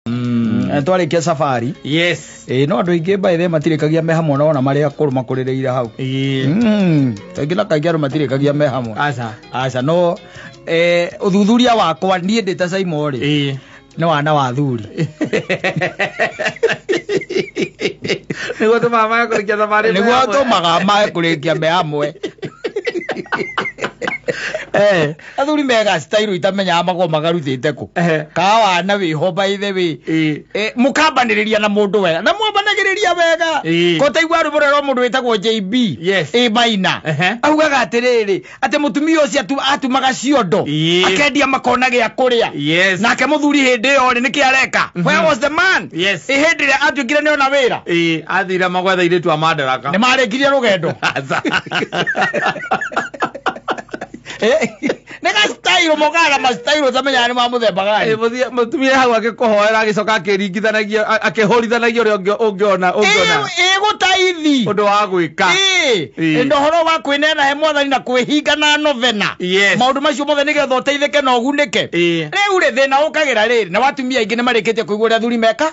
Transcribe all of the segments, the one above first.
Eh, twarĩkia safari yes ĩĩ no andũ aingĩ by the way matirĩkagia me hamwe nona marĩ akũrũ makũrĩrĩire hau Ĩĩ. Mm, kaingĩ na kaingĩ andũ matirĩkagia me hamwe aca aca no eh, ũthuthuria wakwa niĩ ndĩ ta saimo rĩ Ĩĩ. nĩ wana wa thuri nĩguo tũmaga magakũrĩkia thabarĩ nĩguo atũmaga mae kũrĩkia me hamwe Eh, athuri mega style itamenyaga magoo magarutĩte kũ Ehe. kaa wana wĩ ho by the way Ĩĩ. Eh, mũkambanĩrĩria na mũndũ wega na mwambanagĩrĩria wega Ĩĩ. kotaigua rwĩmbo rwerwo mũndũ wĩtagwo jb Yes. ĩ maina Ehe. augaga atĩrĩrĩ atĩ mũtumia ũcio atu- atumaga ciondo Ĩĩ. akendia makona gĩa kũrĩa Yes. nake mũthuri hĩndĩ ĩyo rĩ nĩkĩ areka where was the man Yes. ĩ hĩndĩ ĩrĩa atuĩkire nĩ ona wĩra Ĩĩ, athira magwetha irĩtu a mandaraka nĩ marĩkirie rũgendo Aca. nä gastairo mogara mastairo tamenya nä ma må themba gani mutumia hau agĩkũhoera agĩcoka akĩringithanagia a- akĩhũrithanagia ũrĩa ũngĩ- ũngĩona ũngĩona ä gå taithi ũndũ wa gwĩka Ĩĩ. Ĩĩ. ĩndĩ ũhoro wa kwĩneana he mwathani na kwĩhinga na novena Yes. maũndũ macio mothe nĩgetha ũteithĩke na ũgunĩke Ĩĩ. rĩu rĩ thĩna ũkagĩra rĩrĩ na watumia aingĩ nĩ marĩkĩtie kũigua ũrĩa athuri meka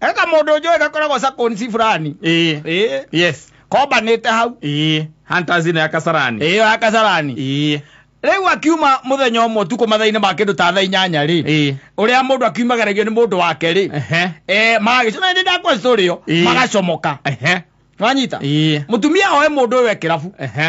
eka mũndũ njũĩ gakoragwo sakonsi fulani ĩĩ ĩĩ yes kombanĩte hau ĩĩ hantazina ya kasarani ĩyo ya kasarani ĩĩ rĩu akiuma mũthenya ũmwe ũtukũ mathainĩ ma kĩndũ ta thaa inyanya rĩ ĩĩ ũrĩa mũndũ akiumagaragio nĩ mũndũ wake rĩ ehe Eh, magagĩcoma nĩ ndakwa story ĩyo Ĩĩ. magacomoka ehe wanyita ĩĩ mũtumia oe mũndũ ũyũ ekĩrabu ehe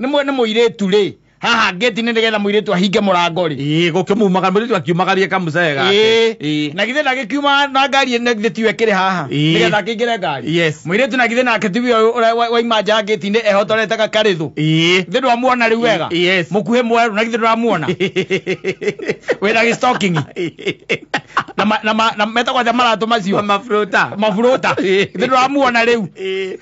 nĩ mwene mũirĩtu rĩ haha ngĩti nĩ nĩgetha mũirĩtu ahinge mũrango rĩ ĩĩ gũkĩmumaga mũirĩtu akiumagarie kamũcee gake Ĩĩ. Ĩĩ. na githĩ ndagĩkiuma na ngari na githĩ tiwe kĩrĩ haha Ĩĩ. nĩgetha akĩingĩre ngari Yes. mũirĩtu na githĩ nake tiwe ũyũ ũrĩa wa- waima nja ngĩti-inĩ ehotorete gakarĩthũ ĩĩ githĩ ndwamuona rĩu wega Ĩ- yes. mũkuhĩ mwerũ na githĩ ndũramuona wĩna gĩstokingi na ma- na ma- na metagwo atĩa maratũ macio maburuta maburũta Ĩĩ. githĩ ndũramuona rĩu Ĩĩ.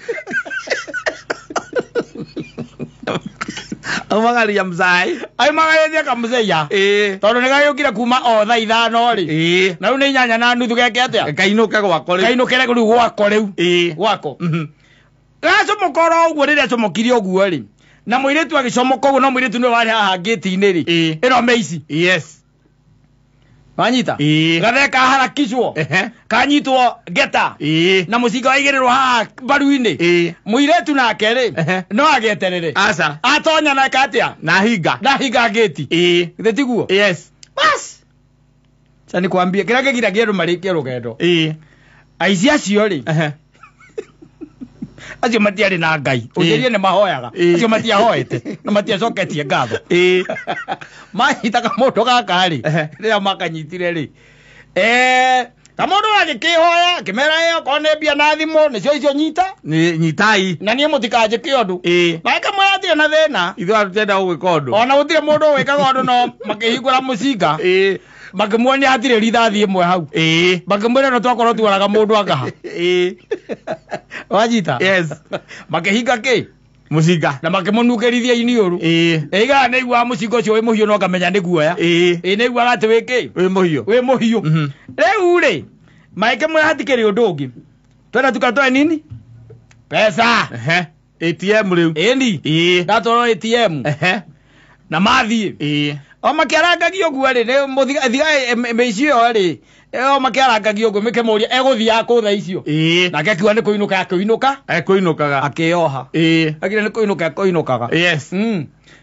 au magaria mzai ai magareria kamzeya eh tondu ni gayukire kuma o tha ithano ri eh na riu ni nyanya na nuthu geke atia kainuka gwakwa rĩu. kainukire riu gwako riu eh gwako mhm gacomokora ũguo rĩrĩa acomokire ũguo rĩ na mũirĩtu agĩcomoka ũguo no mũirĩtu nĩwe warĩ haha ngĩti-inĩ rĩ Eh. ĩno mĩici yes wanyita Ĩĩ. gathe kaharakicwo Ehe. kanyitwo ngeta Ĩĩ. na mũcinga waigĩrĩrwo haha mbaru-inĩ Ĩĩ. mũirĩtu nake rĩ Ehe. no ageterere aca atonya nake atĩa na hinga ndahinga ngĩti ĩĩ githĩ tiguo yes bas ca nĩkwambia kĩrĩa kĩgiragia andũ marĩkie rũgendo ĩĩ aici acio rĩ Ehe. acio matiarĩ na ngai ũnjĩrie nĩ mahoyaga Ĩĩ. acio matiahoete na matiacoketie ngatho Ĩĩ. mahitaga mũndũ gaka rĩ Ehe. rĩrĩa makanyitire rĩ Eh, na mũndũ agĩkĩhoya akĩmera ĩyo korwo nĩ mbia na thimũ nĩcio icio nyita Nĩ- nyitai na niĩ mũtikanjĩke ũndũ Ĩĩ. na ĩkamwĩra atirĩ na thĩna ithuĩ atutenda gũgwĩka ũndũ ona gũtirĩ mũndũ wĩkaga ũndũ no makĩhingũra mũcinga Ĩĩ. makĩmuonia hatirĩ rithathi ĩmwe hau ĩĩ makĩmwĩra no twakorwo tuoraga mũndũ angaha ĩĩ wanyita yes makĩhinga kĩ mũcinga na makĩmũnungĩrithia iniũrũ ĩĩ ĩigaa nĩ iguaga mũcinga ũcio wĩ mũhiũ no ngamenya nĩ guoya ĩĩ ĩ nĩ iguaga atĩ wĩ kĩ wĩ mũhiũ wĩ mũhiũ Mhm. rĩu rĩ maĩkĩmwĩra hatikĩrĩ ũndũ ũngĩ twenda tukatoe nini pesa Ehe. atm rĩu ĩni ĩĩ ndatwarwo atm ehe na mathiĩ ĩĩ o makĩarangagia ũguo rĩ nĩ mũthiga- thiga eh, mĩ- mĩici ĩyo rĩ eh, o makĩarangagia ũguo mĩkĩmũria egũthiaga kũ thaa icio ĩĩ nake akiuga nĩ kũinũka akĩinũka ekũinũkaga akĩyoha ĩĩ agire nĩ kũinũka ekũinũkaga yes Mm.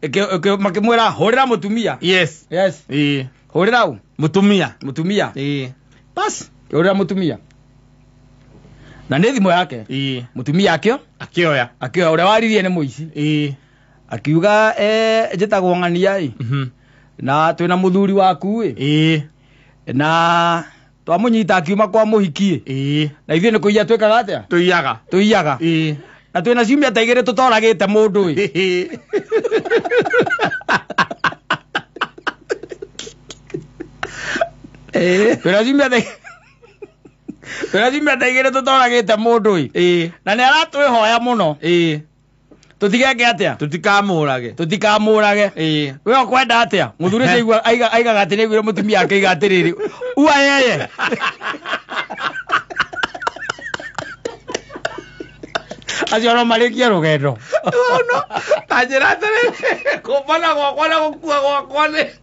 Ĩkĩ- ĩkĩ- makĩmwĩra hũrĩra mũtumia yes yes ĩĩ hũrĩra ũ mũtumia mũtumia ĩĩ basi hũrĩra mũtumia na nĩ thimũ yake ĩĩ mũtumia akĩo akĩoya akĩoya ũrĩa waririe nĩ mũici ĩĩ akiuga eh, njĩtagwo ng'ania ĩ mhm na twĩna mũthuri waku ĩ ĩĩ na twamũnyita akiuma kwa mũhikiĩ ĩĩ na ithuĩ nĩ kũiya twĩkaga atĩa tũiyaga tũiyaga ĩĩ na twĩna ciumia ta igĩrĩ tũtoragĩte mũndũ ĩ ĩĩ twĩna ciumia ta twĩna ciumia ta igĩrĩ tũtoragĩte mũndũ ĩ ĩĩ na nĩ aratwĩhoya mũno ĩĩ tũtigeke atĩa tũtikamũrage tũtikamũrage Ĩĩ. we ũkwenda atĩa mũthuri ũcio aigua- aiga- aigaga atĩ nĩaiguire mũtumia ake aiga atĩrĩrĩ ua yeye acio no marĩkie rũgendo tanjĩra atĩrĩrĩ kũmbana gwakwa na gũkua gwakwa nĩ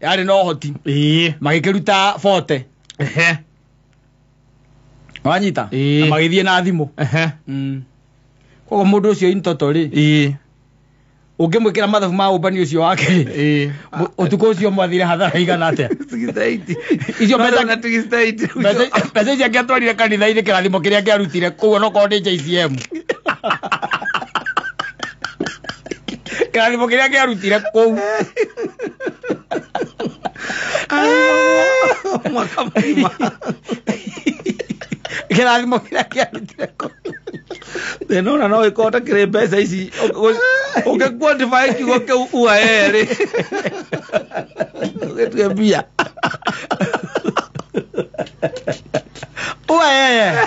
yarĩ na ũhoti ĩĩ magĩkĩruta bote ehe wanyita Ĩĩ. na magĩthiĩ na thimũ ehe Mm. koguo mũndũ ũcio intoto rĩ ĩĩ ũngĩmwĩkĩra mathabu ma ũmbani ũcio wake rĩ ĩĩ mũ- ũtukũ ũcio mwathire hathara igana atĩa Tugistaiti. Icio Bado mbeca- na tugistaiti. Mbeca- mbeca icio angĩatwarire kanitha-inĩ kĩrathimo kĩrĩa angĩarutire koguo nokorwo nĩ jcm kĩrathimo kĩrĩa kĩarutire kũu mwaka mũgima kĩrathimo kĩrĩa kĩarutire kũu thĩna ona no ĩkorwo ta kĩrĩ mbeca ici ũngĩkuondibae kiugo kĩu ua erĩ ũgĩtue mbia uaee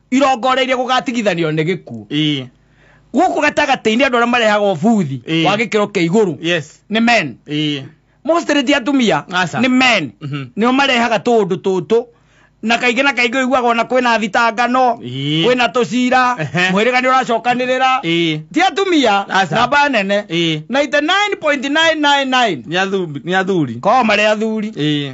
irongoria iria gũgatigithanio nĩ gĩkuũ ĩĩ gũkũ gatagatĩ-inĩ andũ arĩa marehaga ũbuthi Ĩĩ. wa gĩkĩro kĩa igũrũ yes nĩ men ĩĩ mostly ti atumia Aca. nĩ men Mhm. nĩo marehaga tũũndũ tũtũ na kaingĩ na kaingĩ ũiguaga ona kwĩna thitangano Ĩĩ. kwĩna tũcira Ehe. mwĩrĩga nĩ ũracokanĩrĩra ĩĩ ti atumia Aca. namba nene ĩĩ 99.999 nĩ athuri nĩ athuri korwo marĩ athuri ĩĩ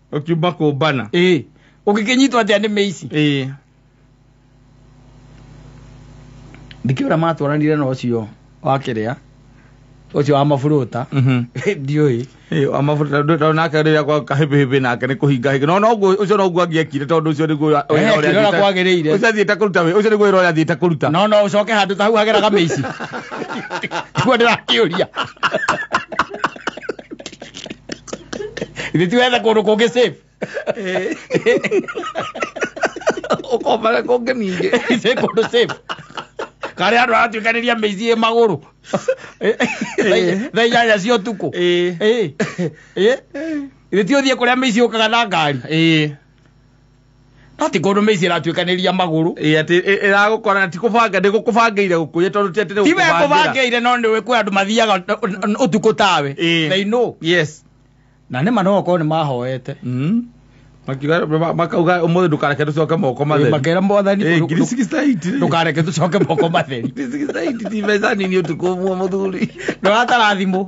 ũkiuma kũmbana ĩĩ ũngĩkĩnyitwo atĩa nĩ mĩici ĩĩ ndikĩũ ũrĩa matwaranire na ũcio wa kĩrĩa ũcio wa maburuta Mhm. ndiũĩ Ĩĩ, wa mabuta- ndũ- ndũ- nake rĩrĩa gwa kahĩbĩhĩbĩ nake nĩ kũhinga hinga no noguo ũcio noguo angĩekire tondũ ũcio nĩguo wĩra Eh, ũrĩa kĩrora athiĩte- kwagĩrĩire. ũcio athiĩte kũruta wĩ- ũcio nĩguo wĩra ũrĩa athiĩte kũruta no no ũcoke handũ ta hau hageraga mĩici kuo ndĩrakĩũria Nĩ tiwetha kũndũ kũngĩ safe. Eh. Ũkombaga kũngĩ ningĩ. Ise kũndũ safe. Karĩa andũ aratuĩkanĩria mĩici ĩ magũrũ. Thaa- Thaa inyanya cia ũtukũ. Eh. Eh. Eh. Nĩ ti ũthiĩ kũrĩa mĩici yũkaga na ngari. Eh. no ti kũndũ mĩici ĩratuĩkanĩria magũrũ ĩ atĩ ĩ- ĩragũkora na ti kũbanga ndĩgũkũbangĩire gũkũrĩa tondũ ti atĩ nĩ tiwe gũkũbangĩra. kũbangĩire no nĩwe kwĩ andũ mathiaga ũ- ũ- ũ- ũtukũ tawe Ĩ. they know yes na nĩma no okorwo nĩ mahoete Mm. Makiuga- ma- makauga ũmũthĩ ndũkareke tũcoke moko matheri makera mwathani Eh, ndũ- ngiri ndũ- 68 rĩ. ndũkareke tũcoke moko matheri Ngiri 68 ti mbeca nini ũtukũ ũmwe mũthuri ndoratara thimũ